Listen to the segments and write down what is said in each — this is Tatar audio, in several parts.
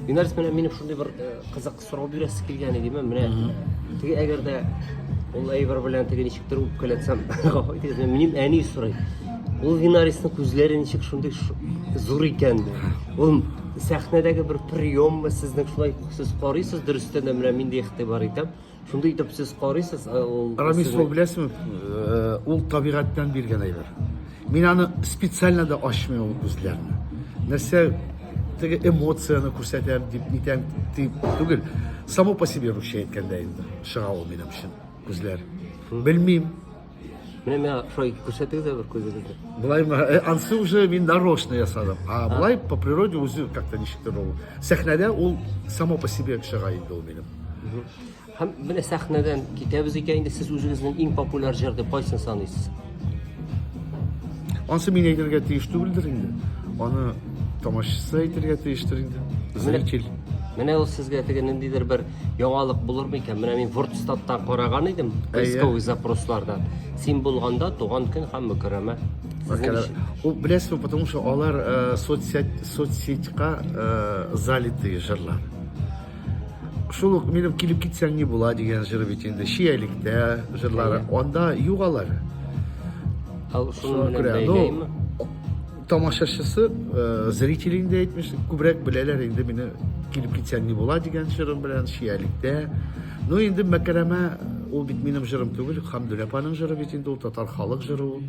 Юнәрис менә минем шундый бер э, кызык сорау бирәсе килгән иде мен менә теге әгәр дә ул әйбер белән теге ничектер үпкәләтсәм гафу итегез мен минем әни сорый ул Юнәрисның күзләре ничек шундый зур икән ул сәхнәдәге бер приеммы сезнең шулай сез карыйсыз дөрестән дә менә миндә игътибар итәм Шундый итеп сез карыйсыз, ә ул Рамис ул беләсезме, э, ул табигатьтән биргән әйбер. Мин аны специально да ачмый ул күзләрне. Нәрсә теге эмоцияны күрсәтәм дип нитәм дип түгел. Само по себе русча әйткәндә инде чыга ул минем өчен күзләр. Белмим. Менә миңа шулай күрсәтегез дә бер күзегезне. Болай ма- э, ансы уже мин нарочно ясадым. А болай по природе үзе как-то ничектер ул. Сәхнәдә ул само по себе чыга инде ул минем. Һәм менә сәхнәдән китәбез икән инде сез үзегезнең иң популяр җыр дип кайсын саныйсыз? Ансы мин әйтергә тиеш түгелдер инде. Аны тамашачысы әйтергә тиештер инде. Зритель. Менә ул сезгә теге ниндидер бер Яңалык булыр микән? Менә мин Вордстаттан караган идем, поисковый запрослардан. Син булганда туган көн һәм мөкәрәмә. Ул беләсезме, потому что алар э, соцсеть соцсетька э, залитые жырлар. Шул ук минем килеп китсәң не була дигән жыры бит инде Шиялектә жырлары. Анда юк алар. Шуны күрә. Ну, Тамашачысы, э, зритель инде әйтмешли, күбрәк беләләр инде мине килеп китсәң ни була дигән җырым белән Шиялектә. Ну инде мәкәрәмә ул бит минем җырым түгел, Хамдүлә апаның җыры бит инде ул татар халык җыры ул.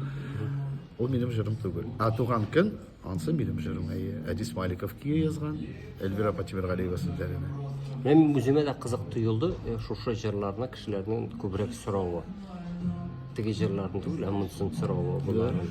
Ул минем җырым түгел. А туган көн ансы минем җырым. Әйе, Әдис Маликов кие язган, Эльвира апа Тимергалиева сүзләренә. Мен үземә дә кызык тоелды э, шушы җырларны кешеләрнең күбрәк соравы. Теге җырларны түгел, ә монысын соравы боларның.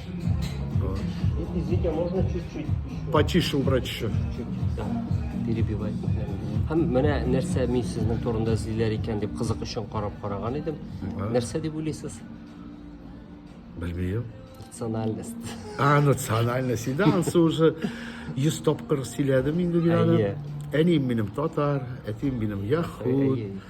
Извините, а можно чуть-чуть? Потише убрать еще. перебивать. Һәм менә нәрсә мин сезнең турында эзлиләр икән дип кызык өчен карап караган идем. Нәрсә дип уйлыйсыз? Белмим. Национальность. А, национальность. Инде ансы уже 100 тапкыр сөйләдем инде мин аны. Әнием минем татар, әтием минем яхуд.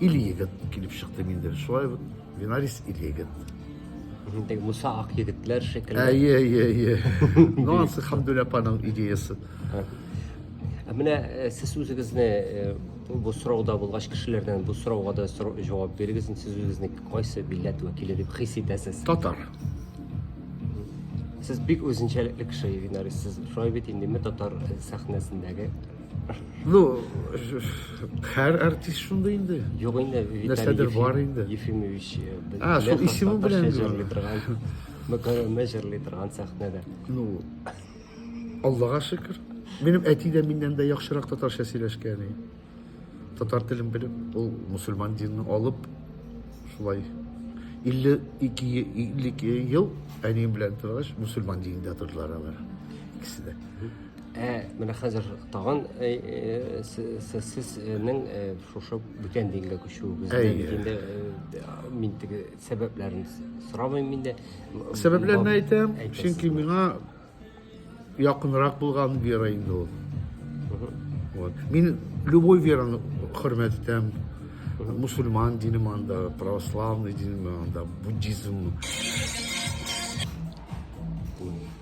Ил-егет килеп чыктым инде. Шулай ук Винарис ил-егет. Инде Муса ак егетләр шикелле. Әйе, әйе, әйе. Ну, ансы Хамдүлә апаның идеясы. Ә Менә э, сез үзегезне э, бу сорауда булгач кешеләрдән бу сорауга да сорау- җавап бирегез. Сез үзегезне кайсы милләт вәкиле дип хис итәсез? Татар. Сез бик үзенчәлекле кеше, Винарис. Сез шулай бит инде татар э, сәхнәсендәге Ну, һәр артист шундый инде. Юк инде, нәрсәдер бар инде. Ефимович, а, шул исеме белән җырлый торган. Мөкәррәмә җырлый торган сәхнәдә. Ну, Аллага шөкер. Минем әти дә миннән дә яхшырак татарча сөйләшкән. Татар телен белеп, ул мусульман динен алып, шулай 52 52 ел әнием белән торгач, мусульман динендә тордылар алар. Икесе дә. Ә менә хәзер тагын э, э, се- се- сезнең э, шушы бүтән дингә күчүегезне Әйе. бит инде э, мин теге сәбәпләрен с- сорамыйм инде. Сәбәпләрен Бу- әйтәм, әйтәсез. чөнки миңа якынрак булган вера инде ул. Вот. Мин любой вераны хөрмәт итәм. Мусульман динем анда, православный динем анда, буддизм.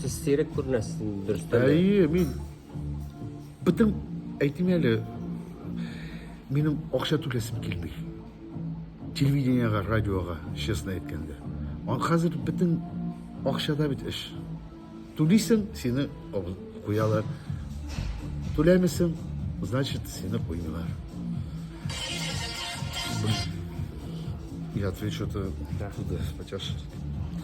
Сез сирәк күренәсез дөрестән. Әйе, мин бөтен әйтим әле минем акча түләсем килми. Телевидениега, радиога, честно әйткәндә. Ан хәзер бөтен акчада бит эш. Түлисең, сине куялар. Түләмисең, значит, сине куймыйлар. Я отвечу-то да. туда,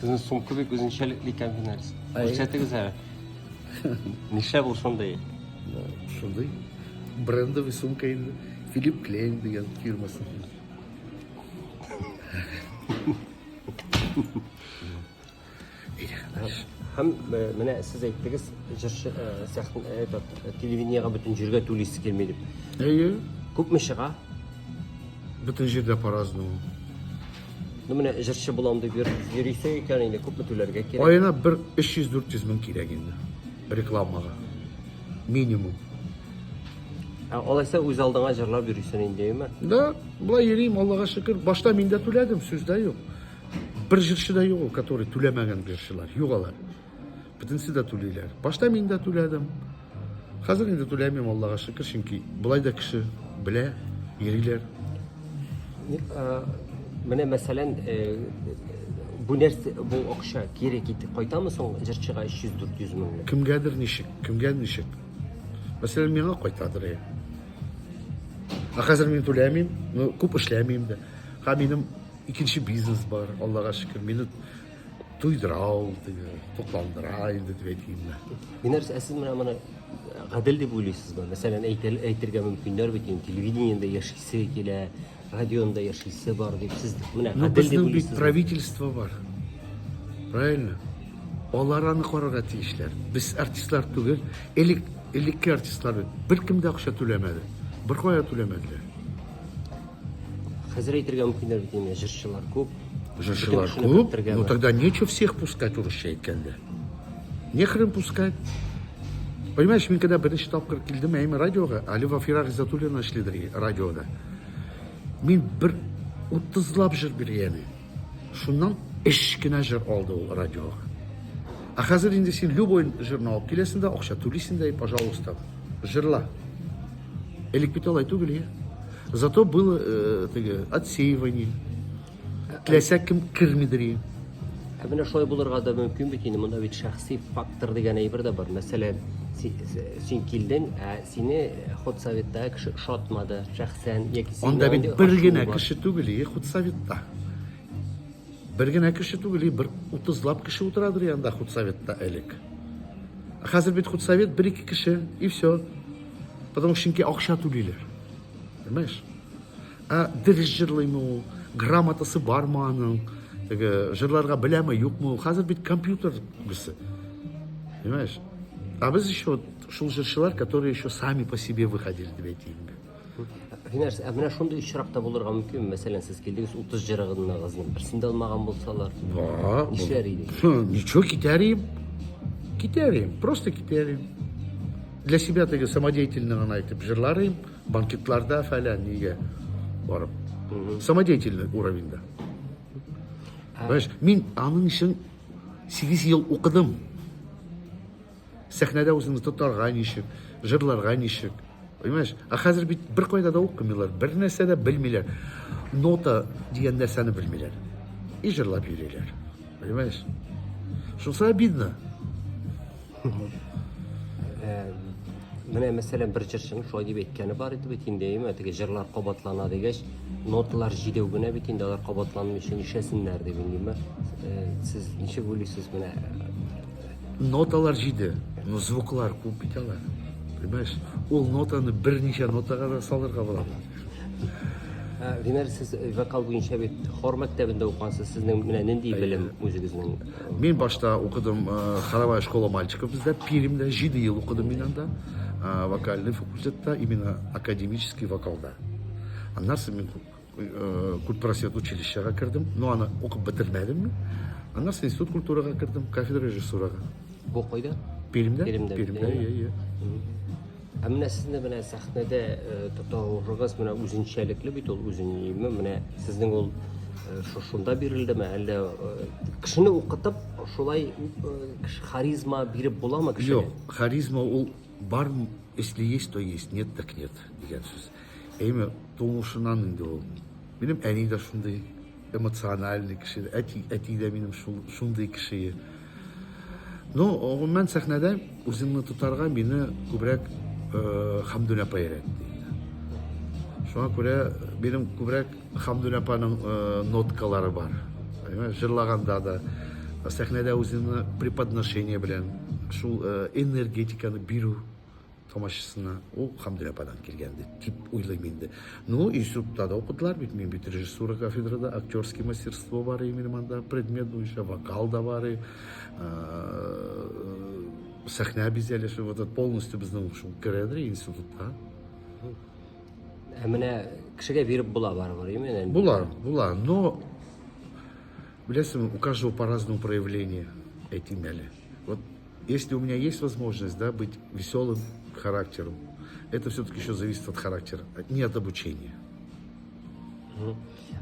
Сезнең сумка бик үзенчәлекле икән, Финарис. Әй. Күрсәтегез әле. Нишләп ул шундый? Ну, Шундый брендовый сумка инде. Филипп Клейн дигән фирмасы. Һәм э, менә сез әйттегез, җырчы э, сәхнә э, этот, э, телевидениегә бөтен җиргә түлисе килми дип. Әйе. Күпме чыга? Бөтен җирдә по-разному. Ну менә җырчы булам дип йөрисең икән инде, күпме түләргә кирәк? Аена бер 300-400 мең кирәк инде. Рекламага. Минимум. Ә алайса үз алдыңа җырлап йөрисең инде, әйме? Да, болай йөрим, Аллага шөкер. Башта мин дә түләдем, сүз дә юк. Бер җырчы да юк, который түләмәгән җырчылар, юк алар. Бөтенесе дә түлиләр. Башта мин дә түләдем. Хәзер инде түләмим, Аллага шөкер, чөнки болай да кеше белә, йөриләр. Э, менә мәсәлән, э, бу нәрсә, бу акча кире китеп кайтамы соң җырчыга 300-400 меңлек? Кемгәдер ничек, кемгә ничек. Мәсәлән, миңа кайтадыр. Ә э. хәзер мин түләмим, ну, күп эшләмим дә. Һәм минем икенче бизнес бар, Аллага шөкер. Минут Туйдырау, тукландырай, дип әйтимме. Минәрс, ә сез менә моны гадел дип уйлыйсызмы? Мәсәлән, әйтергә мөмкиннәр бит, инде телевидениедә яшисе килә, радионда яшисе бар дип сез менә ну, гадел дип уйлыйсызмы? правительство бар. Правильно? Алар аны карарга тиешләр. Без артистлар түгел, элек элекке артистлар бер кем дә акча түләмәде. Бер кая түләмәделәр. Хәзер әйтергә мөмкиннәр бит инде, җырчылар күп. Җырчылар күп, ну тогда нечего всех пускать урысча әйткәндә. Нехрен пускать. Понимаешь, мин когда беренче тапкыр килдем әйме радиога, әле Вафира Гизатуллина эшлидер радиода. Мин бер утызлап җыр биргән. Шуннан эш кенә җыр алды ул радиога. А хәзер инде син любой җырны алып киләсең дә, акча түлисең дә, и пожалуйста, җырла. Элек бит алай түгел, я. Зато было э, теге, отсеивание. Теләсә кем кермидер иде. Ә менә шулай булырга да мөмкин бит инде. Монда бит шәхси фактор дигән әйбер дә бар. Мәсәлән, си- с- син килдең, ә сине ход советтагы кеше ошатмады шәхсән яки сине Анда бит андый бер ачуы генә бар. кеше түгел, и худсоветта. Бер генә кеше түгел, и бер утызлап кеше утырадыр и анда худсоветта элек. Ә Хәзер бит худсовет бер-ике кеше, и все. Потому что чөнки акча түлиләр. Понимаешь? Ә дөрес җырлыймы ул? Грамотасы бармы аның? Теге җырларга беләме, юкмы ул? Хәзер бит компьютер гүсе. Понимаешь? А без еще вот шул җырчылар, которые еще сами по себе выходили, дип әйтим. Ринарс, ә менә шундый очракта булырга мөмкин, мәсәлән, сез килдегез 30 җырыгызны берсен дә алмаган булсалар. Ва, Нишләр идегез? Ничего, китәрим. Китәрим, просто китәрим. Для себя теге самодеятельный гына итеп җырлар идем, банкетларда фәлән нигә барып. Самодеятельный уровеньда. Баш, мин аның өчен 8 ел укыдым. Сәхнәдә үзеңне тотарга ничек, җырларга ничек. Понимаешь? А хәзер бит бер кайда да укымыйлар, бер нәрсә дә белмиләр. Нота дигән нәрсәне белмиләр. И җырлап йөриләр. Понимаешь? Шусы обидно. Менә мәсәлән бер җырчының шулай дип әйткәне бар иде бит инде, әйме, теге җырлар кабатлана дигәч, ноталар җидәү генә бит инде алар кабатланмый өчен ишәсеннәр дип инде. Сез ничек уйлыйсыз менә? Ноталар җиде, но звуклар күп бит алар. Понимаешь? Ул нотаны берничә нотага да салырга була. Винер, сез вокал буенча бит хор мәктәбендә укыгансыз, сезнең менә нинди белем үзегезнең? Мин башта укыдым хоровая школа мальчиков бездә Пермьдә 7 ел укыдым мин анда вокальный факультетта именно академический вокалда. Аннан соң мин культпросвет училищега кердем, но аны укып бетермәдем мин. Аннан соң институт культурага кердем, кафедра режиссурага. Бу кайда? Пермьдә. Пермьдә. Пермьдә, иә, иә. Ә менә сезне менә сәхнәдә э, тотауыгыз менә үзенчәлекле бит ул үзенеме менә сезнең ул э, шушында бирелдеме әллә э, кешене укытып шулай харизма биреп буламы кешегә? Юк, харизма ул бар, если есть, то есть, нет так нет дигән сүз. Әйме, тумышынан инде ул. Минем әни дә шундый. эмоциональный кеше, әти, әти дә минем шул, шундый кеше. Ну, гомумән сәхнәдә үземне тотарга мине күбрәк э, Хамдүн апа өйрәтте. Шуңа күрә минем күбрәк Хамдүн апаның э, ноткалары бар. Җырлаганда да сәхнәдә үземне преподношение белән шул э, энергетиканы бирү тамашасына ул Хамдүл ападан килгән бит, дип уйлыйм инде. Ну, институтта да укыдылар бит, мин бит режиссура кафедрада, актерский мастерство бар иде минем анда, предмет буенча, вокал да бар иде, сәхнә бизәлеше, вот это полностью безнең шул керәдер институтка. Ә менә кешегә биреп була барыбер, именно. Була, була, но Беләсеңме, у каждого по разному проявление, әйтим әле. Вот если у меня есть возможность, да, быть веселым характером, это все-таки еще зависит от характера, не от обучения.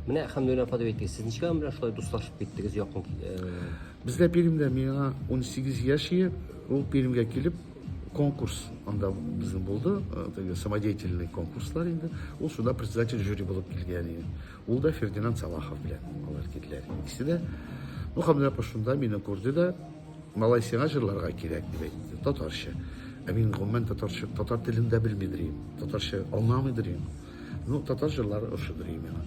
Менә Хәмдүнә апа дип әйтте. Сез ничек белән шулай дуслашып киттегез якын? Бездә Пермьдә миңа 18 яшь иде. Ул Пермьгә килеп конкурс анда безнең булды, теге самодеятельный конкурслар инде. Ул шунда председатель жюри булып килгән иде. Ул да Фердинанд Салахов белән алар киделәр. Икесе дә ну Хамдулапа шунда мине күрде дә, малай сиңа җырларга кирәк дип әйтте, татарча. Ә мин гомумән татарча, татар телен дә белмидер идем, татарча аңламыйдыр идем. Ну, татар җырлары ошыдыр идем миңа.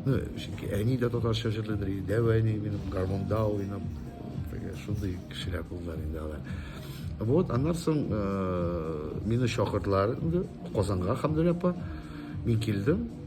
Ну, чөнки әни дә татарча җырлыйдыр иде, дәү әни минем гармунда уйнап, шундый кешеләр булдылар инде алар. Вот, аннан соң э, мине чакырдылар инде Казанга Хамдулапа. Мин килдем,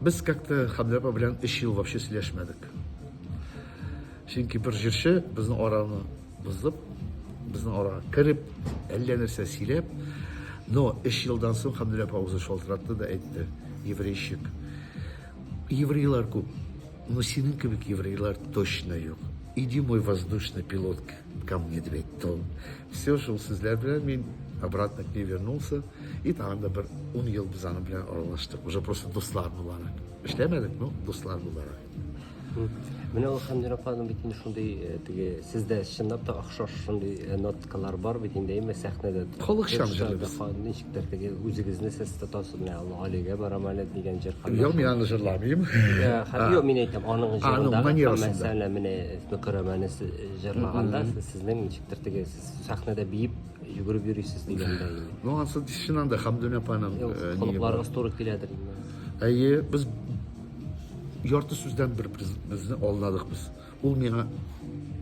Без как-то Хәмдә апа белән 3 ел вообще сөйләшмәдек. Чөнки бер җырчы безнең араны бозып, безнең арага кереп, әллә нәрсә сөйләп, но 3 елдан соң Хәмдә апа үзе шалтыратты да әйтте, еврейщик. Еврейлар күп, но синең кебек еврейлар точно юк. Иди мой воздушный пилот ко мне, дип әйтте ул. Все шул сүзләр белән мин обратно к ней вернулся. И тагын да бер ун ел без аның белән аралаштык. Уже просто дуслар буларак. Эшләмәдек, но дуслар буларак. Менә ул Хәмдин апаның бит инде шундый э, теге сездә чынлап та охшаш шундый э, ноткалар бар бит инде әйме сәхнәдә. Халыкчан җырлый без. Ничектер теге үзегезне сез тотасыз менә Алла Алигә барам әле дигән җыр. Юк, мин аны җырламыйм. Юк, мин әйтәм, аның җырында мәсәлән менә Мөкәрәмәне җырлаганда сез Сезнең ничектер теге сез сәхнәдә биеп йөгереп йөрисез дигәндә инде. Ну, ансы чыннан да Хамдүн апаның Юк, э, нигә бар. холыкларыгыз туры киләдер инде. Әйе, без ярты сүздән бер безне алдадык без. Ул миңа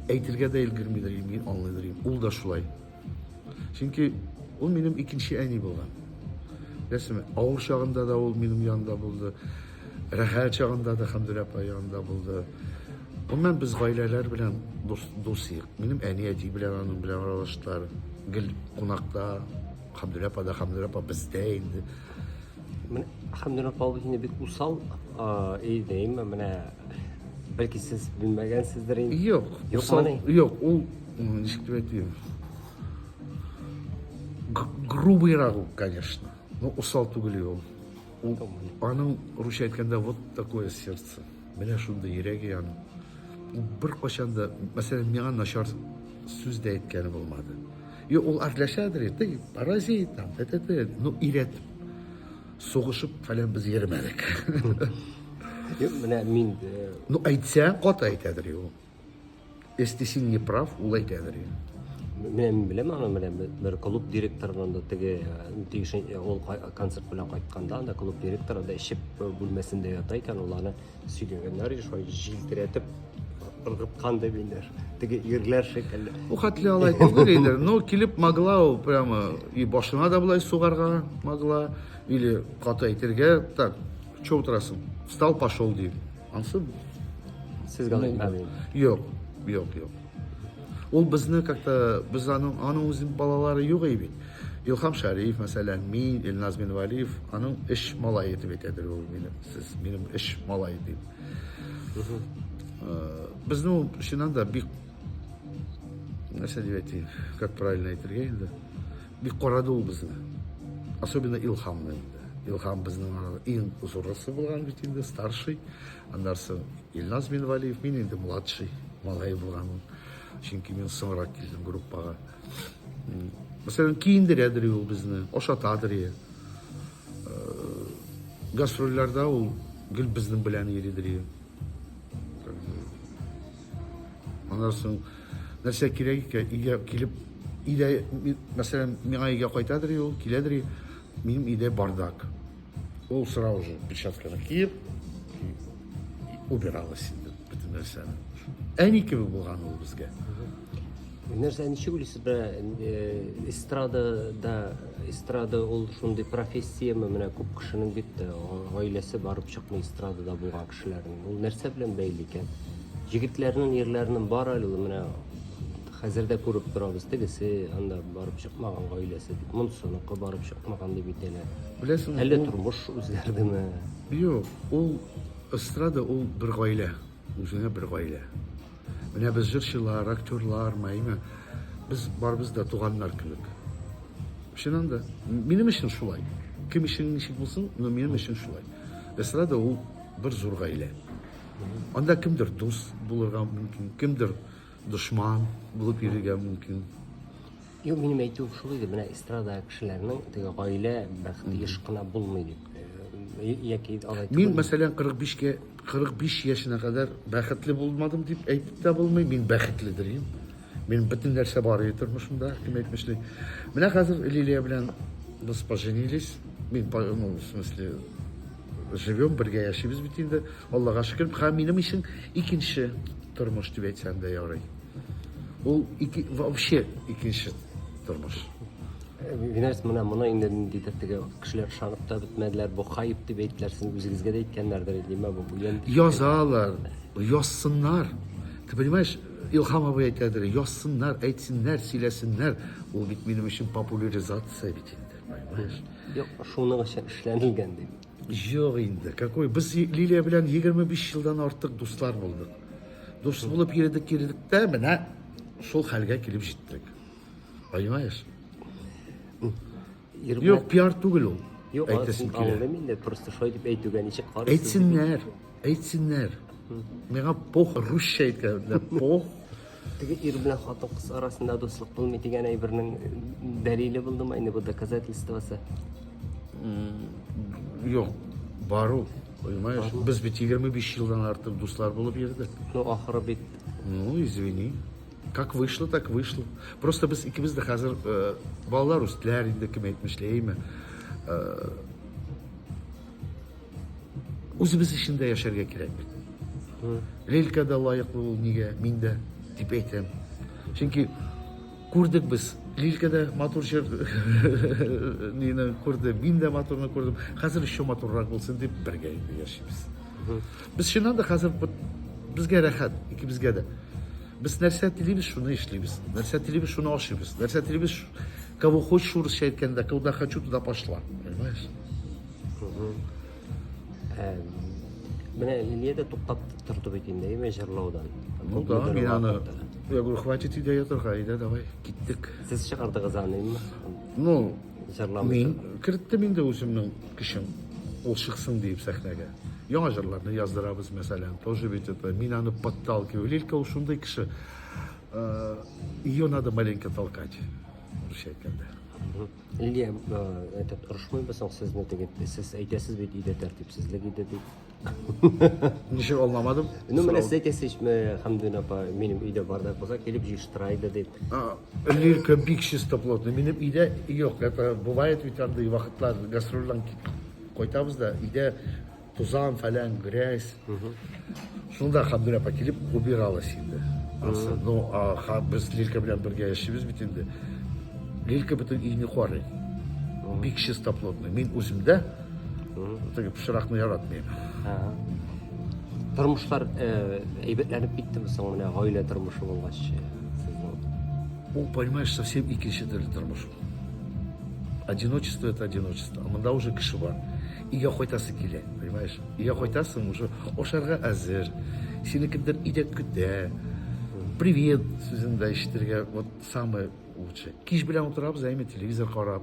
әйтергә дә өлгермидер, мин аңлыйдыр. идем. Ул да шулай. Чөнки ул минем икенче әни булган. Беләсеңме, авыр чагында да ул минем янымда булды. Рәхәт чагында да Хәмдүр апа янында булды. Гомумән без гаиләләр белән дус, дус идек. Минем әни әти белән аның белән аралаштылар. Гел кунакта Хәмдүр апа да Хәмдүр апа бездә инде. Менә Хәмдүр апа ул инде бик усал а, и дейме, менә бәлки сез белмәгәнсездер инде. Юк, Юк, усал, мани. юк, ул м, ничек дип әйтим? Г- Грубыйрак ул, конечно. Ну, усал түгел ул. Ул, аның, русча әйткәндә, вот такое сердце, менә шундый йөрәге аның. Ул беркайчан да, мәсәлән, миңа начар сүз дә әйткәне булмады. И ул артләшәдер, ты паразит там, т т т ну ирәтеп, сугышып фәлән без йөрмәдек. Менә мин. Ну әйтсә, каты әйтәдер ул. Если син не прав, ул әйтә берген. Мен беләм аны менә бер клуб директорынан да теге тиешен ул концерт белән кайтканда анда клуб директоры да ишеп бүлмәсендә ята икән ул аны сөйләгәннәр и шулай җилтерәтеп ыргыткан дип инде теге ирләр шикелле бу хәтле алай түгел инде но килеп могла ул прямо и башына да болай сугарга могла или каты әйтергә так Че утырасың? Встал, пошел ди. Ансы Сез гана Мулла. итмәдегез. Юк, юк, юк. Ул безне как-то без аның аның үзе балалары юк иде бит. Илхам Шариф, мәсәлән, мин, Илназ Минвалиев, аның эш малае дип әйтәдер ул мине. Сез минем эш малае дип. Э, Безне ул чыннан да бик нәрсә дип әйтик, как правильно әйтергә инде. Бик карады ул безне. Особенно Илхамны инде. Илхам безнең арада иң зурысы булган бит инде, старший. Аннан соң Илназ Минвалиев, мин инде младший малай булганым. Чөнки мин соңрак килдем группага. Мәсәлән, киендерәдер ул безне, ашатадыр. Э, гастрольләрдә ул гел безнең белән йөридер. Аннан соң Нәрсә кирәк икән, өйгә килеп, өйдә, мәсәлән, миңа өйгә кайтадыр ул, киләдер, минем өйдә бардак. Ул сразу же перчатканы киеп, убиралась инде бөтен нәрсәне. Әни кебек булган ул безгә. Нәрсә ничек уйлыйсыз да эстрада да эстрада ул шундый профессияме менә күп кешенең бит гаиләсе барып чыкмый эстрадада булган Эшләрен. Ул нәрсә белән бәйле икән? Җегетләрнең ирләренең бар әле ул менә хәзер дә күреп торабыз. Тегесе анда барып чыкмаган гаиләсе дип, монсыныкы барып чыкмаган дип әйтәләр. Беләсеңме? Әллә тормыш үзгәрдеме? Юк, ул эстрада ул бер гаилә, үзенә бер гаилә. Менә без җырчылар, актерлар, мәйме, без барыбыз да туганнар кебек. Чыннан да, минем өчен шулай. Кем өчен ничек булсын, но минем өчен шулай. Эстрада ул бер зур гаилә. Анда кемдер дус булырга мөмкин, кемдер дошман булып йөрергә мөмкин. Юк, минем әйтүем шул иде, менә эстрада кешеләренең теге гаилә бәхете еш кына булмый дип. Э, яки алай Мин, мәсәлән, 45-кә 45 яшенә кадәр бәхетле булмадым дип әйтеп тә булмый. Мин бәхетле дирим. Мин бөтен нәрсә бар иде тормышымда, кем әйтмешли. Менә хәзер Лилия белән без поженились. Мин, ну, в смысле, живем, бергә яшибез бит инде. Аллага шөкер, һәм минем өчен икенче тормыш дип әйтсәм дә ярый. Ул ике, вообще икенче тормыш. Винарис менә моны инде ниндидер теге кешеләр ышанып та бетмәделәр. Бу хайп дип әйттеләр, сез үзегезгә дә әйткәннәрдер, димә бу уен. Язалар, язсыннар. Ты понимаешь, Илһам абый әйтәдер, язсыннар, әйтсеннәр, сөйләсеннәр. Ул бит минем өчен популяризация бит инде, понимаешь? Юк, шуның өчен эшләнелгән дип. Юк инде, какой? Без Лилия белән 25 елдан артык дуслар булдык. Дус булып йөрдек, йөрдек тә, менә шул хәлгә килеп җиттек. Понимаешь? Ирмә... Юк, пиар түгел ул. Юк, әйтәсем килә. Аңлыйм инде, просто шулай дип әйтүгә ничек карыйсыз? Әйтсеннәр, әйтсеннәр. Миңа пох русча әйткәндә пох. Теге ир белән хатын кыз арасында дуслык булмый дигән әйбернең дәлиле булдымы инде бу доказательствосы? Юк, бару. Понимаешь? Без бит 25 елдан артык дуслар булып йөрдек. Ну, ахыры бит. Ну, извини. Как вышло, так вышло. Просто без икебез дә хәзер э, балалар үстеләр инде, кем әйтмешли, әйме. Э, үзебез өчен дә яшәргә кирәк бит. Лелька да лаеклы ул нигә, мин дә дип әйтәм. Чөнки күрдек без Лилька да матур җыр нины күрде, мин дә матурны күрдем. Хәзер еще матуррак булсын дип бергә инде яшибез. Без чыннан да хәзер безгә рәхәт, икебезгә дә. Без нәрсә телибез, шуны эшлибез. Нәрсә телибез, шуны ашыйбыз. Нәрсә телибез, кого хочешь урысча әйткәндә, куда хочу, туда пошла. Понимаешь? Ә, менә Лилия дә туктап торды бит инде, әйме, җырлаудан. Ну да, мин аны... Я говорю, хватит идея торга, әйдә, давай, киттек. Сез чыгардыгыз аны, әйме? Ну, Мин керттем инде үземнең көчем. Ул чыксын диеп сәхнәгә. Яңа җырларны яздырабыз, мәсәлән, тоже ведь это мин аны подталкиваю. Лилька ул шундый кеше. Э, Ее надо маленько толкать. Русча әйткәндә. Лилия, э, этот, орышмыйбыз соң сезне теге, сез әйтәсез бит, өйдә тәртипсезлек иде дип. Ничек аңламадым? Ну, менә сез әйтәсез, Хамдун апа, минем өйдә бардак булса, килеп җыештыра иде дип. Лирка бик чисто плотный. Минем өйдә юк. Это бывает ведь андый вакытлар гастрольдан кайтабыз да, өйдә тузан, фәлән, грязь. Шунда Хамдун апа килеп убиралась инде. Ну, а без Лирка белән бергә яшибез бит инде. Лирка бөтен өйне карый. Бик чисто плотный. Мин үземдә Теге пычракны яратмыйм. Тормышлар э, әйбәтләнеп киттеме соң менә гаилә тормышы булгач? Ул, понимаешь, совсем икенче төрле тормыш. Одиночество это одиночество. А монда уже кеше бар. Иге кайтасы килә, понимаешь? Иге кайтасы уже ошарга әзер. Сине кемдер идәп көтә. Привет сүзендә ишетергә вот самое лучшее. Кич белән утырабыз, әйме телевизор карап.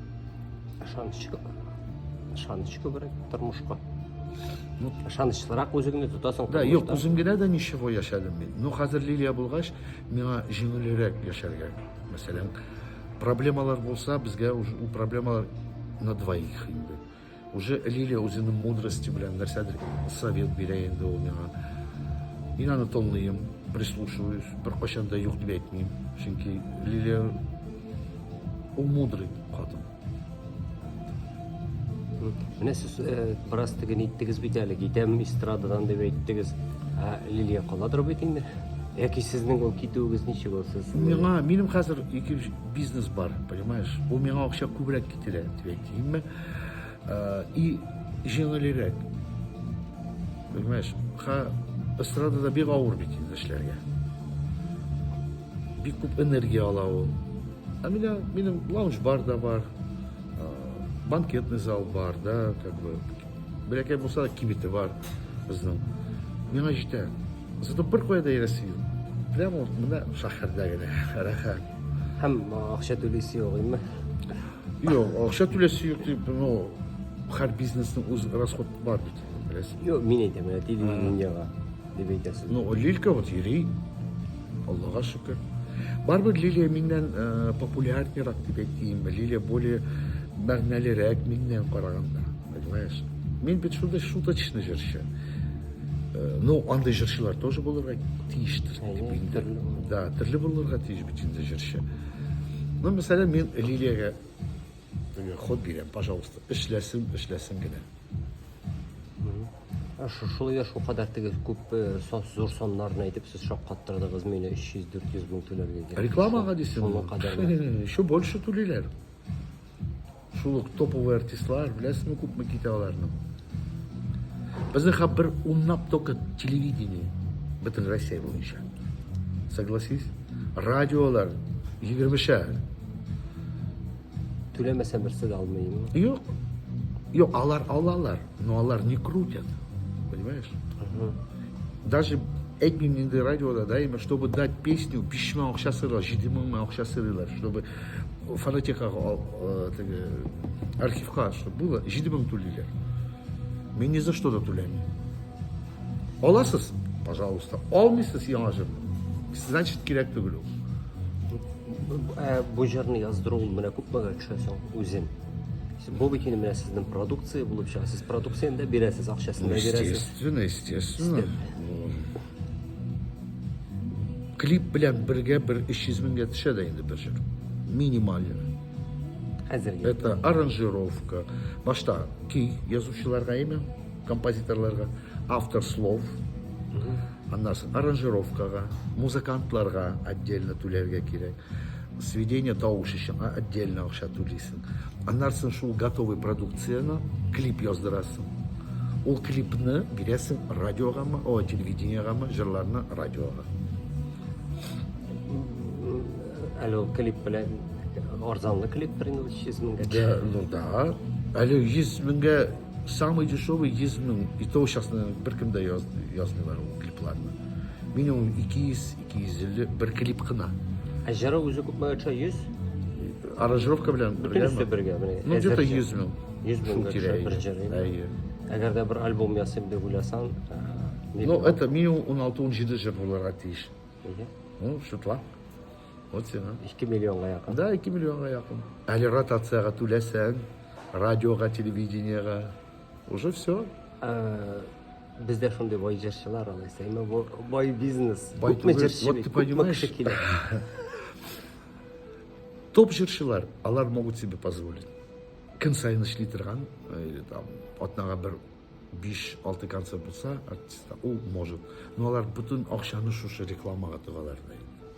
ышаныч ышаныч күбрәк тормышка ну ышанычлырак үзеңне тотасың да юк үзем генә дә ничего яшәдем мин ну хәзер лилия булгач миңа җиңелрәк яшәргә мәсәлән проблемалар булса безгә ул проблемалар на двоих инде Уже Лилия үзенең мудрости белән нәрсәдер совет бирә инде ул миңа. Мин аны тыңлыйм, прислушиваюсь, беркайчан да юк дип әйтмим. Чөнки Лилия ул мудрый хатын. Менә сез э, бераз теген иттегез бит әле, китәм эстрададан дип әйттегез. Ә Лилия каладыр бит инде. Яки сезнең ул китүегез ничек ул сез? Миңа, минем хәзер ике бизнес бар, понимаешь? Ул миңа акча күбрәк китерә, дип әйтимме? Э, и җиңелрәк. Понимаешь, ха эстрадада бик авыр бит инде эшләргә. Бик күп энергия ала ул. А меня, минем лаунж-бар да бар, банкетный зал бар, да, как бы, бәләкәй булса да кибете бар безнең. Миңа җитә. Зато бер кая да йөрәсе юк. Прямо вот менә шәһәрдә генә рәхәт. Һәм акча түлисе юк, имме? Юк, акча түләсе юк дип, ну, һәр бизнесның үз расход бар бит, беләсең. Юк, мин әйтәм, менә телевидениега дип әйтәсез. Ну, Лилька вот йөри, Аллага шөкер. Барбер Лилия миннән э, популярнерак дип әйтим, Лилия более мәгънәлерәк миннән караганда, понимаешь? Мин бит шундый шуточный җырчы. Э, Ну, андый җырчылар тоже булырга тиештер. Әйе, дип инде. төрле булыр. Да, төрле булырга тиеш бит инде җырчы. Ну, мәсәлән, мин Лилиягә теге ход бирәм, пожалуйста, эшләсен, эшләсен генә. Ә шу- Шулай да шулкадәр теге күп э, сон- зур саннарны әйтеп сез шаккаттырдыгыз мине 300-400 мең түләргә. кирәк. Рекламага дисең. Шуңа кадәр. Еще больше түлиләр. Шул ук топовый артистлар, беләсеңме, күпме китә аларның. Безнең хәп бер унлап только телевидение бөтен Россия буенча. Согласись? Радиолар 20-шәр. Түләмәсә берсе дә алмыймы? Юк. Юк, алар алалар, но алар не крутят. Понимаешь? Даже әйтмим инде радиода, да, именно, чтобы дать песню, 5000 акча сыйлар, 7000 акча сыйлар, чтобы фонотекага теге архивка чтобы было җиде мең түлиләр мин ни за что да түләмим аласыз пожалуйста алмыйсыз яңа җыр значит кирәк түгел ул ә бу җырны яздыру ул менә күпмегә төшә соң үзен бу бит инде менә сезнең продукция булып чыга сез продукцияне дә бирәсез акчасын да бирәсез естественно естественно Клип белән бергә бер 300 меңгә төшә дә инде бер җыр. Минимально. Хәзергә. Это аранжировка. Башта ки язучыларга яме, композиторларга, автор слов, аннан аранжировкага, музыкантларга отдельно түләргә кирәк. Сведение тавыш өчен отдельно акча түлисең. Аннары соң шул готовый продукцияне клип яздырасың. Ул клипны бирәсең радиогамы, ой, телевидениегамы, җырларны радиога. Әле ул клип белән арзанлы клип бер инде 300 меңгә. Да, ну да. Әле 100 меңгә самый дешевый 100 мең. И то сейчас бер кем дә яз, язмыйлар ул клипларны. Минимум 200 Кизүле бер клип кына. Ә җыры үзе күпме акча? 100? Аранжировка белән бергә. Бөтенесе бергә. Ну, где-то 100 мең. 100 мең акча бер җыры. Әйе. Әгәр дә бер альбом ясыйм дип уйласаң, Ну, это минимум 16-17 җыр булырга тиеш. Ну, шутла. Вот сиңа. 2 миллионга якын. Да, 2 миллионга якын. Әле ротацияга түләсәң, радиога, телевидениега. Уже все. Бездә шундый бай җырчылар алайса, әмма бу бай бизнес. Бай Күпме түгел, җырчы, вот бит, ты күпме понимаешь? кеше килә. Топ җырчылар, алар могут себе позволить. Көн сайын эшли торган, э, или там, атнага бер 5-6 концерт булса, артистка, ул может. Но алар бөтен акчаны шушы рекламага тыгалар да инде.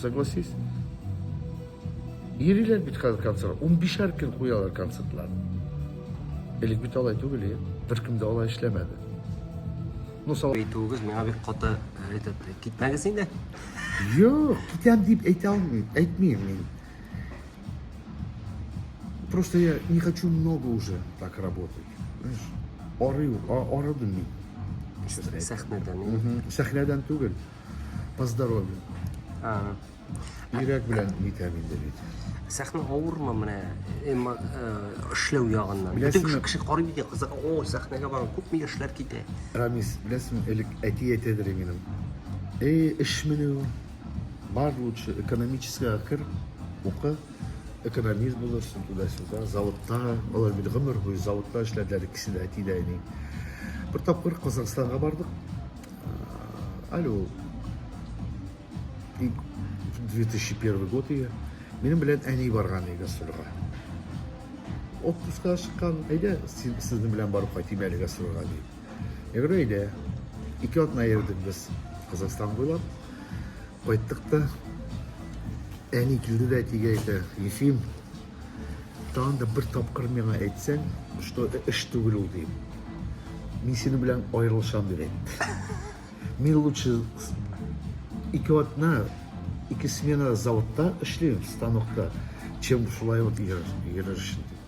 Согласись? Йөриләр бит хәзер концерт. 15 һәр көн куялар концертлар. Элек бит алай түгел, е. Беркем дә алай эшләмәде. Ну, сала... Әйтүегез миңа бик каты рәт итте. Китмәгез инде. Юк, китәм дип әйтә алмыйм, әйтмим мин. Просто я не хочу много уже так работать. Знаешь, арыю, арыдым мин. Сәхнәдән. Сәхнәдән түгел. По здоровью. Ага. Йөрәк белән итәм инде бит. Сәхнә авырмы менә эмма э, эшләү ягыннан? Бөтен Беләсеңме? кеше кеше карый бит, кызык. О, сәхнәгә барам, күпме яшьләр китә. Рамис, беләсеңме, элек әти әйтәдер иде минем. Эй, эш меню. Бар лучше экономическийга кер, укы, экономист булырсың туда-сюда, заводта, алар бит гомер буе заводта эшләделәр, икесе дә әти дә әни. Бер тапкыр Казахстанга бардык, Алло. И 2001 год иде. Минем белән әни барган иде гастрольгә. Отпускка чыккан, әйдә, сезнең белән барып кайтыйм әле гастрольгә ди. Ягъни әйдә. Ике атна йөрдек без Казахстан буйлап. Кайттык та әни килде дә әтигә әйтә, Ефим, Тагын да бер тапкыр миңа әйтсәң, что эш түгел ул диеп. Мин синең белән аерылышам дип әйт. Мин лучше ике атна, ике смена заводта эшлим, станокта, чем шулай вот йөрершин дип.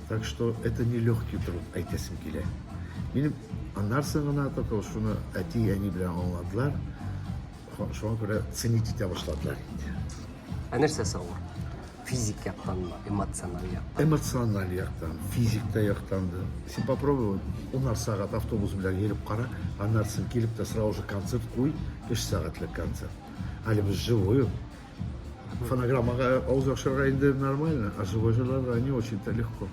Так что это не легкий труд, әйтәсем килә. Минем аннарсын гына только шуны әти-әни белән аңладылар. Шуңа күрә ценить итә башладылар инде. Ә нәрсәсе авыр? Физик яктанмы, эмоциональ яктан? Эмоциональ яктан, физик та яктан да. Син попробуй унар сәгать автобус белән йөреп кара, аннары син килеп тә сразу же концерт куй, өч сәгатьлек концерт. Әле без живой Фонограммага авыз яхшырга инде нормально, а живой жырларга не очень-то легко.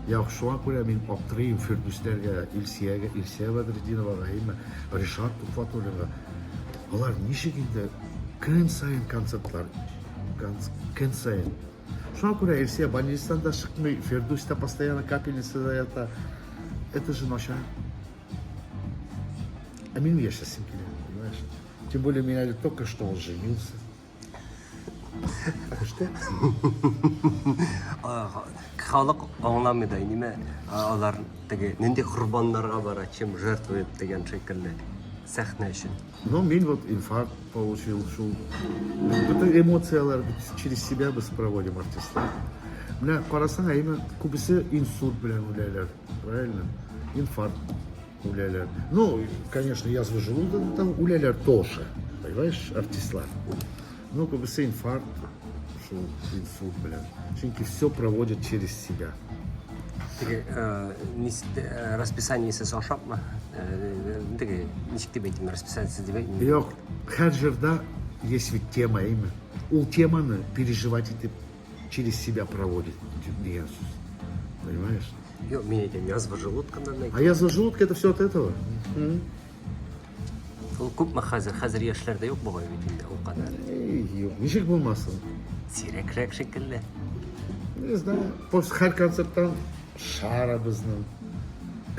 Я шуңа күрә мин аптырыйм Фирдүсләргә, Илсиягә, Илсия Бәдретдиновага, әйме, Ришат Тухватуллинга. Алар ничек инде көн сайын концертлар, көн сайын. Шуңа күрә Илсия больницадан да чыкмый, Фирдүс тә постоянно капельницада ята. Это же начар. Ә минем яшәсем килә, понимаешь? Тем более, меня ведь только что он женился. Что? Халык аңламый да, неме алар теге нинди корбаннарга бара, чем жертвует дигән шикелле сәхнә өчен. Ну, мин вот инфаркт получил, шул. Бөтен эмоцияләр через себя без проводим артистлар. Менә карасаң, әйме күбесе инсульт белән үләләр, правильно? Инфаркт. Үләләр. Ну, конечно, язвы желудок, там үләләр тоже. Понимаешь, артистлар. Ну, как бы с инфаркт, шул инсульт белән. Чөнки все проводят через себя. Теге э, нис- э, расписаниесез ашапмы? Э, Теге ничек дип әйтим, расписаниесез дип әйтмим. Юк, һәр җырда есть ведь тема, әйме. Ул теманы переживать итеп Через себя проводит дигән сүз. Понимаешь? Юк, мин әйтәм, язва желудкыннан әйтәм. А язва желудка это все от этого. Угу. Ул күпме хәзер? Хәзер яшьләрдә юк бугай бит инде ул кадәр. Юк, ничек булмасын? Сирәкрәк шикелле. Не знаю. После һәр концерттан шарабызның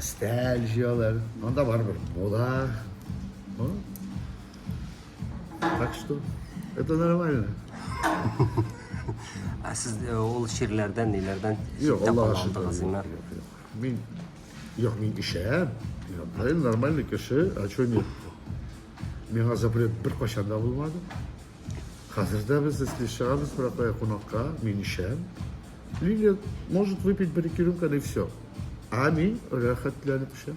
стәл җыялар. Анда барыбер була. Так что, это нормально. Ә сез э, ул ширләрдән, ниләрдән Юк, читтә Аллаһ калган алдыгыз, шөкер. Иман? Юк, юк. Мин, юк, мин ишәм. Я, правильно, нормальный кеше, а что нет? Миңа запрет бер кайчан да булмады. Хәзер дә без эске чыгабыз, бірақ кая кунакка, мин ишәм. Лилия может выпить бір-ике рюмканы и все. А мин рәхәтләнеп ишәм.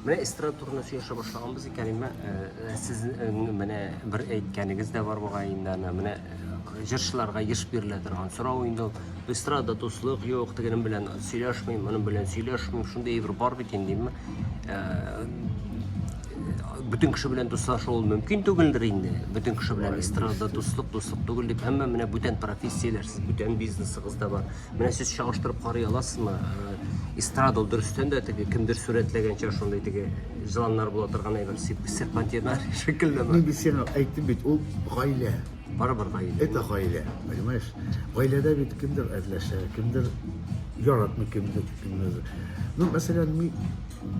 Менә эстрада турында сөйләшә башлаганбыз икән, менә э, э, сез э, менә бер әйткәнегез дә бар бугай инде аны, менә җырчыларга еш бирелә торган сорау инде ул. Эстрада дуслык юк, тегенем белән сөйләшмим, моның белән сөйләшмим, шундый әйбер бар бит инде, димме? Бүтән кеше белән дуслашу ул мөмкин түгелдер инде. Бүтән кеше белән эстрада дуслык, дуслык түгел дип, әмма менә бүтән профессияләр, сез бүтән бизнесыгыз да бар. Менә сез чагыштырып карый аласызмы? Э, эстрада ул дөрестән дә теге кемдер сурәтләгәнчә шундый теге җыланнар була торган әйбер серпантиннар шикеллеме? Мин бит сиңа әйттем бит, ул гаилә. Барыбер гаилә. Это гаилә, понимаешь? Гаиләдә бит кемдер әрләшә, кемдер яратмый, кемдер кемдер. Ну, мәсәлән, мин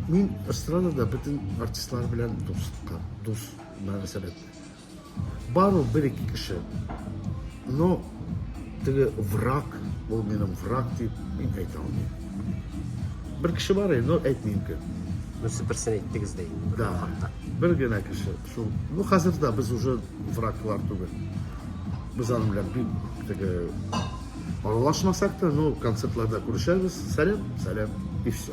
мин эстрадада бөтен артистлар белән дуска, дус мөнәсәбәт. Бар ул бер-ике кеше. Но теге враг, ул минем враг дип мин әйтә алмыйм. Бер кеше бар, но әйтмим кем. Ну, сез берсен әйттегез дә инде. Да, бер генә кеше. Шул, ну, хәзер дә без уже враглар түгел. Без аның белән бик теге аралашмасак та, ну, концертларда күрешәбез. Сәлам, сәлам, и все.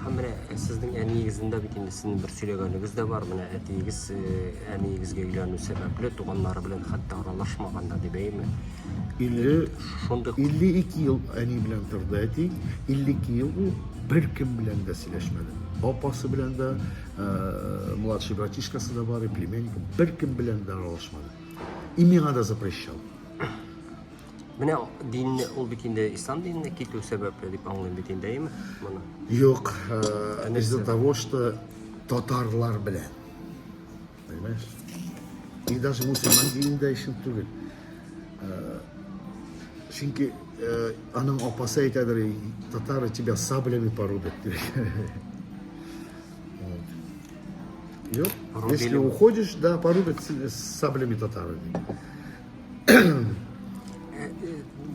Һәм менә сезнең әниегездән дә бит инде сезнең бер сөйләгәнегез дә бар. Менә әтиегез әниегезгә өйләнү сәбәпле туганнары белән хәтта аралашмаган да дип әйме? 50 шундый 52 ел әни белән торды әти. 52 ел ул бер кем белән дә сөйләшмәде. Апасы белән дә, младший братишкасы да бар, племянник, бер кем белән дә аралашмады. И миңа да запрещал. Менә динне ул бит инде ислам диненә китү сәбәпле дип аңлыйм бит инде, әйеме? Моны. Юк, э, из-за того, что татарлар белән. Понимаешь? И даже мусульман динендә өчен түгел. Э, чөнки э, аның апасы әйтәдер, татары тебя саблями порубят. Если уходишь, да, порубят саблями татары.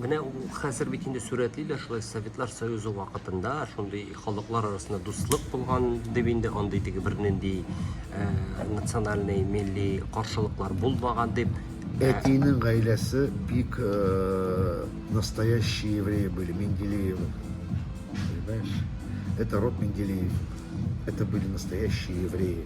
Менә хәзер бит инде сурәтлиләр шулай Советлар Союзы вакытында шундый халыклар арасында дуслык булган дип инде андый теге бернинди э, национальный милли каршылыклар булмаган дип э, Әтинең гаиләсе бик э, настоящие евреи были, Менделеевы. Понимаешь? Это род Менделеев. Это были настоящие евреи.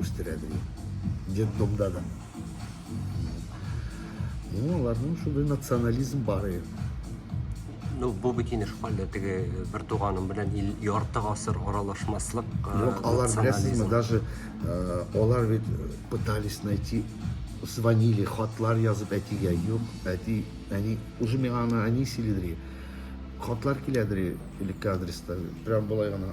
үстерә бирә. Детдомда да. Ну, аларның шундый национализм бар ие. Ну, бу бит инеш хәлле теге э, бер туганым белән ил ярты гасыр аралашмаслык. Э, Юк, алар беләсезме, даже э, алар бит пытались найти звонили, хатлар язып әтигә, юк, әти, әни, уже миңа аны әни сөйлидер. Хатлар киләдер элекке адреста. Прям болай гына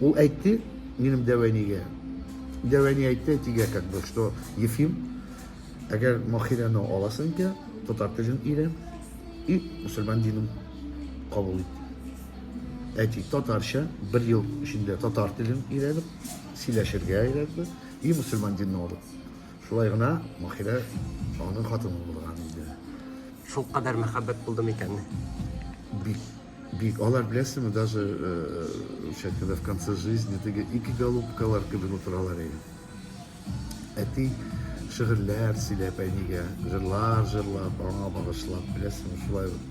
Ул әйтте, минем дәвәнигә. Дәвәни әйтте, әйтигә как бы, что Ефим, әгәр Махирәне аласың икән, татар телен өйрән и мусульман динен кабул ит. Әти татарча бер ел эчендә татар телен өйрәнеп, сөйләшергә өйрәтте и мусульман динен алып. Шулай гына Махирә аның хатыны булган иде. Шул кадәр мәхәббәт булдымы икән? Бик Бик. Алар, беләсеңме, даже участниклар в конце жизни теге ике голубкалар кебек утыралар иде. Әти шигырьләр сөйләп әнигә, җырлар җырлап, аңа багышлап, беләсеңме, шулай ук.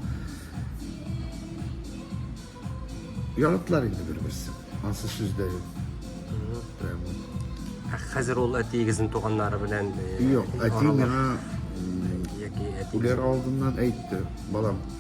Яратылар инде бер-берсен. Ансы сүз дә юк. Прямо. Ә хәзер ул әтиегезнең туганнары белән Юк, әти аралаш- миңа яки әти Үләр алдыннан әйтте, балам,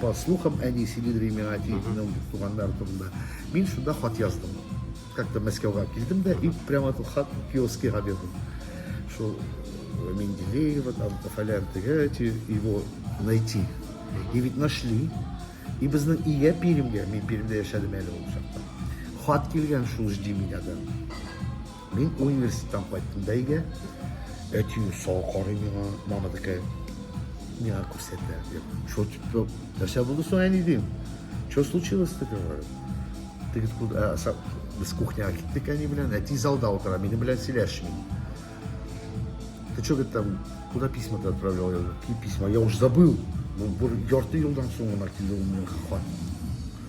По слухам, әни сөйләде миңа әтиеңнең туганнары турында. Мин шунда хат яздым. Как-то Мәскәүгә килдем дә и прямо ту хат Пиоскига бирдем. Шул э, Менделеева, там, фалян тегәти, его найти. И ведь нашли. И безнең ия Пермьгә, мин Пермьдә яшәдем әле ул чакта. Хат килгән шул жди меня да. Мин университеттан кайттым да өйгә. Әти сау карый миңа, мама такая, миңа күрсәтә. Что типа, нәрсә булды соң әни дим? Что случилось ты говорю? Теге ә, э, без кухняга киттек әни белән, әти залда утыра, минем белән сөйләшми. Ты что, говорит, там, куда письма ты отправлял? Я говорю, какие письма? Я уж забыл. Ну, ярты юлдан соң гына килде ул минем хат.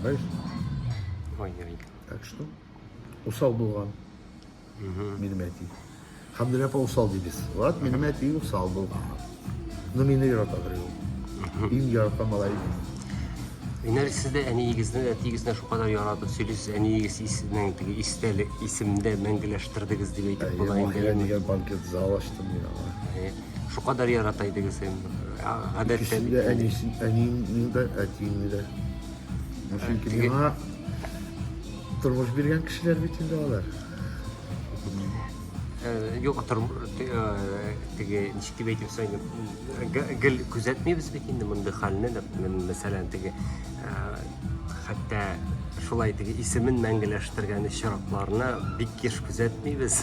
Знаешь? Ой, ой. Так что? Усал булган. Угу. Минем әти. Хамдулла апа усал дибез. Вот, минем әти усал был. Но мине яратадыр ул. Иң яраткан малай. Инәр сез дә әниегезне, әтиегезне шул кадәр яратып сөйлисез, әниегез исенең теге истәлек исемдә мәңгеләштердегез дип әйтеп була инде. Дигән банкет зал ачтым мин аңа. Шукадәр ярата идең син. Гадәттә бит. Әнисен, әнине дә, әтине дә. Чөнки миңа тормыш биргән кешеләр бит инде алар. Э, юк э, теге ничек дип әйтеп соң гел күзәтмибез бит инде мондый хәлне дип мен мәсәлән теге э, хәтта шулай теге исемен мәңгеләштергән очракларны бик еш күзәтмибез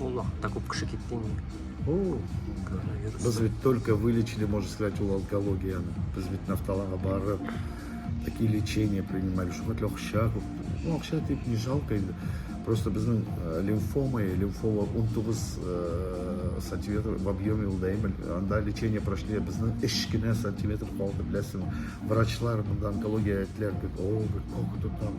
Ул вакытта күп кеше китте инде. Ул коронавирус. Без бит только вылечили, можно сказать, ул онкологияны. Без бит нафталага барып, такие лечения принимали, что хоть акча күп. Ну, акча тип не жалко инде. Просто безнең э, лимфома, лимфома 19 э, сантиметр в объеме ул дәймел. Анда лечение прошли, безнең эш кенә сантиметр калды, беләсең. Врачлар, монда онкология әйтләр, о, как это там?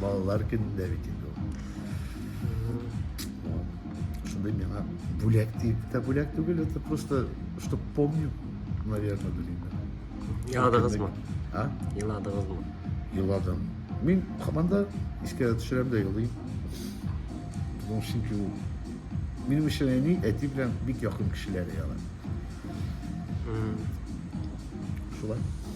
Балалар көнендә бит инде ул. Шундый миңа бүләк дип тә бүләк түгел, это просто, что помню, наверное, белмим. Еладыгызмы? А? Еладыгызмы? Еладым. Мин һаман да искә төшерәм дә елыйм. Ну, чөнки ул минем өчен әни, әти белән бик якын кешеләр яла. Шулай.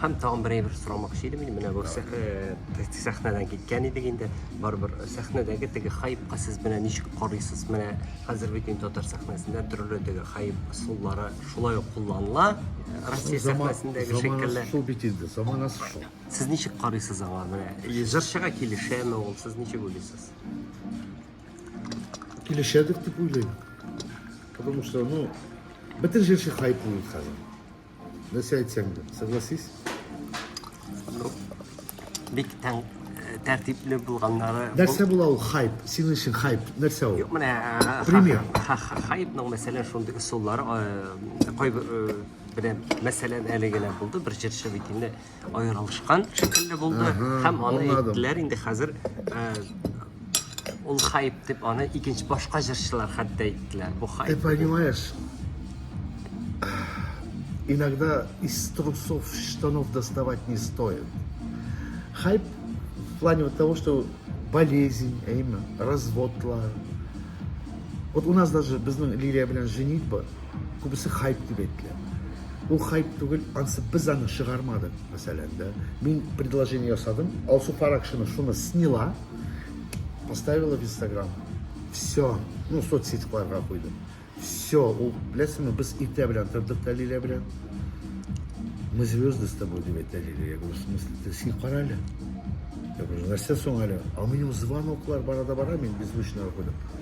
Һәм тагын бер әйбер сорамакчы идем инде, менә бу э, сәхнәдән киткән идек инде, барыбер э, сәхнәдәге теге хайпка сез менә ничек карыйсыз, менә хәзер бит инде татар сәхнәсендә төрле теге хайп ысуллары шулай ук кулланыла, э, Россия сәхнәсендәге шикелле. Шул бит инде, заманасы шул. Сез ничек карыйсыз аңа менә? Җырчыга килешәме ул, сез ничек уйлыйсыз? Килешәдер дип уйлыйм. Потому что, ну, бөтен җырчы хайп булыр хәзер. Нәрсә әйтсәң дә, согласись? Ну, бик тәң тәртипле булганнары. Нәрсә була ул хайп? Синең өчен хайп нәрсә ул? Юк, менә пример. Хайпның мәсәлән шундый ысуллары кайбер белән мәсәлән әле генә булды бер җырчы бит инде Аерылышкан шикелле булды һәм аны әйттеләр инде хәзер э, ул хайп дип аны икенче башка җырчылар хәтта әйттеләр. Бу хайп. Ты понимаешь, иногда из трусов штанов доставать не стоит. Хайп в плане вот того, что болезнь, именно, развод, вот у нас даже без Лилия, блин, женитьба, Күбесе хайп дип әйтелә. Ул хайп түгел, ансы без аны чыгармадык, мәсәлән, да. Мин предложение ясадым, Алсу Фаракшина шуны сняла, поставила в Инстаграм. Все, ну, соцсетьларга куйды. Все, ул, беләсеңме, без иртә белән тордык Дәлилә белән. Мы звезды с тобой, дип әйтә Лилия. Я говорю, в смысле, ты син кара әле? Я говорю, нәрсә соң әле? А минем звоноклар барада бара, мин беззвучно куйдым.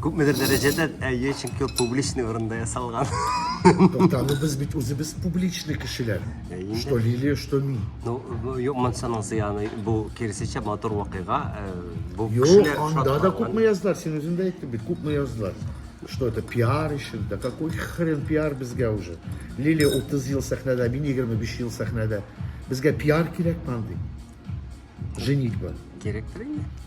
Күпмедер дәрәҗәдә, әйе, чөнки ул публичный урында ясалган. Тукта, без бит үзебез публичный кешеләр. Ә инде- Что Лилия, что мин. Ну, бу- юк, монсаның зыяны, бу киресенчә матур вакыйга. э, Бу Юк, кешеләр анда да шатланган. күпме яздылар, син үзең дә әйттең бит, күпме яздылар. Что это, пиар өчен, да какой хрен пиар безгә уже. Лилия 30 ел сәхнәдә, мин 25 ел сәхнәдә. Безгә пиар кирәкме андый? Женитьба. Кирәктер инде.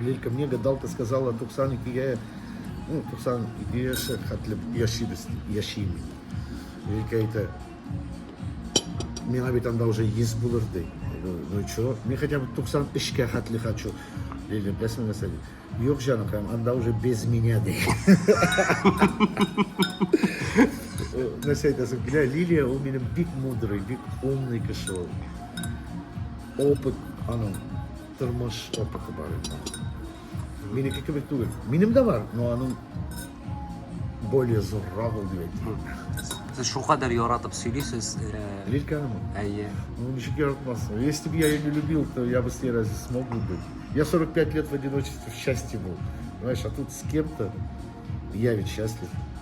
Лилька, мне гадалка сказала, 92 ну, 92 шәр хәтле яшибез, яшим. Лилька әйтә, миңа бит анда уже ес булыр ди. Ну и чего? Мне хотя бы 93-кә хәтле хочу. Лиля, беләсең нәрсә ди? Юк, җаныкаем, анда уже без меня ди. Нәрсә әйтәсең? Бля, Лилия, ул минем бик мудрый, бик умный кеше ул. Опыт аның Тормыш опыты бар инде. Минеке кебек түгел. Минем дә бар, но аның более зуррак ул дип әйтим. Сез шулкадәр яратып сөйлисез. Э, Лильканы? Әйе. Ну, ничек яратмасын. Если бы я ее не любил, то я бы с ней разве смог бы быть? Я 45 лет в одиночестве в счастье был. Понимаешь, а тут с кем-то я ведь счастлив.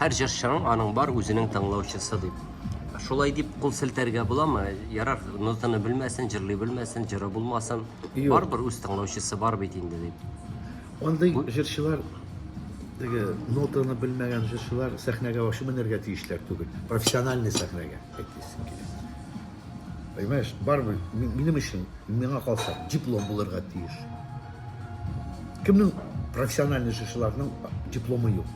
Һәр җырчының аның бар үзенең тыңлаучысы дип. Шулай дип кул селтәргә буламы? Ярар, нотаны белмәсен, җырлый белмәсен, җыры булмасын. Юк. Барыбер үз тыңлаучысы бар бит инде дип. Андый җырчылар теге нотаны белмәгән җырчылар сәхнәгә ачы менәргә тиешләр түгел. Профессиональный сәхнәгә әйтәсем килә. Понимаешь, барыбер ми- минем өчен, миңа калса, диплом булырга тиеш. Кемнең профессиональный җырчыларның дипломы юк?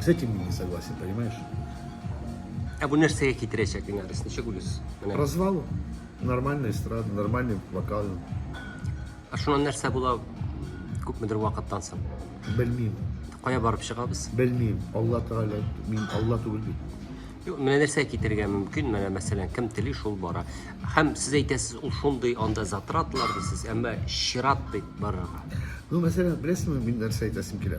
С этим я не согласен, понимаешь? А вы нәрсәгә китерәчәк иң арыс? Ничек үлес? Менә. Развал. Нормальная эстрада, нормальный вокал. А шуннан нәрсә була күпмедер вакыттан соң? Белмим. Кая барып чыгабыз? Белмим. Алла Тәгалә, мин Алла түгел бит. Юк, менә нәрсә китергә мөмкин, менә мәсәлән, кем тели шул бара. Һәм сез әйтәсез, ул шундый анда затратлар дисез, әмма чират дип барырга. Ну, мәсәлән, беләсеңме, мин нәрсә әйтәсем килә?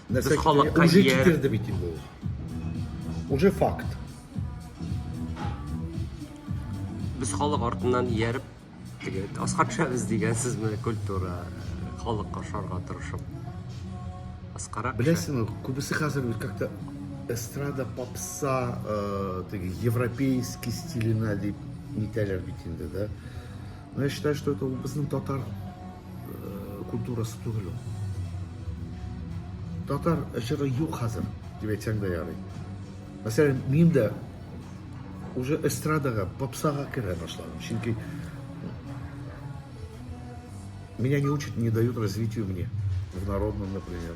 Нәрсә халыкка Уже ияр. китерде бит инде ул. Уже факт. Без халык артыннан ияреп, теге аска төшәбез дигән сүзне культура халыкка ашарга тырышып. Аскарак төшә. Беләсеңме, күбесе хәзер бит как-то эстрада, попса, э, теге европейский стиленә дип нитәләр бит инде, да. Но я считаю, что это ул безнең татар культурасы түгел ул. Татар җыры юк хәзер, дип әйтсәң дә ярый. Мәсәлән, мин дә уже эстрадага, попсага керә башладым. Чөнки меня не учат, не дают развитию мне. В народном, например.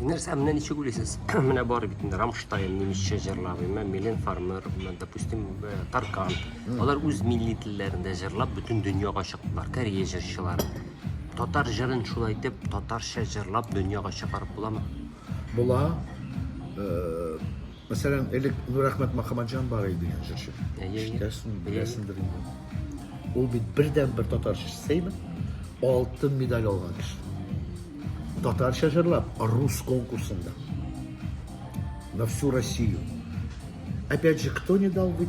Нәрсә, менә ничек уйлыйсыз? Менә бар бит инде Рамштайн немецчә җырлап, имә Милен Фармер, допустим, э, Таркан. Алар үз милли телләрендә җырлап бөтен дөньяга чыктылар, Корея җырчылары. Татар җырын шулай итеп татарча җырлап дөньяга чыгарып буламы? Була. Э, Мәсәлән, элек Нурәхмәт Мөхәммәтҗан бар иде дигән җырчы. Ишетәсең, беләсеңдер инде. Ул бит бердәнбер татар җырчысымы? Алтын медаль алган кеше. Татарча җырлап, рус конкурсында. На всю Россию. Опять же, кто не дал быть?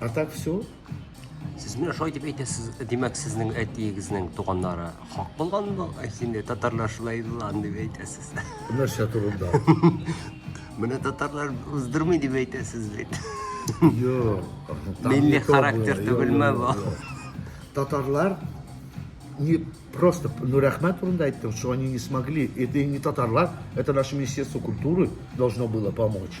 А так все. Сез менә шулай дип әйтәсез, димәк, сезнең әтиегезнең туганнары хак булган бу, ә инде татарлар шулай булган дип әйтәсез. Нәрсә турында? Менә татарлар уздырмый дип әйтәсез бит. Юк. Милли характер түгелме бу? Татарлар не просто, ну, Рахмат Урунда айтты, что они не смогли. Это не татарлар, это наше Министерство культуры должно было помочь.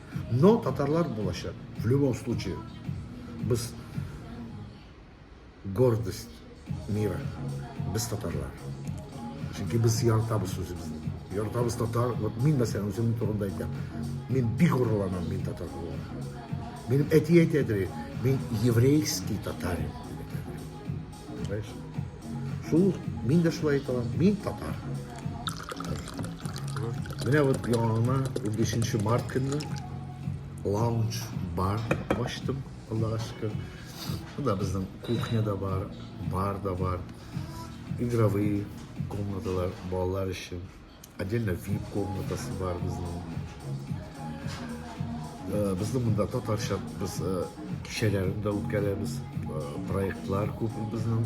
Но татарлар булачак. В любом случае. Без гордость мира. Без татарлар. Чөнки без яртабыз үзебезне. Яртабыз татар. Вот мин мәсәлән үземнең турында әйтәм. Мин бик горурланам мин татар булуыма. Минем әти әйтәдер, мин еврейский татарин. Шул, мин дә шулай әйтә алам, мин татар. Менә вот яңа 15 март көнне лаунж бар ачтым, Аллага шөкер. Шунда безнең кухня да бар, бар да бар. Игровые комнаталар балалар өчен. Отдельно VIP комнатасы бар безнең. Э, Безнең монда татарча без э, кичәләрен дә үткәрәбез. Э, Проектлар күп безнең.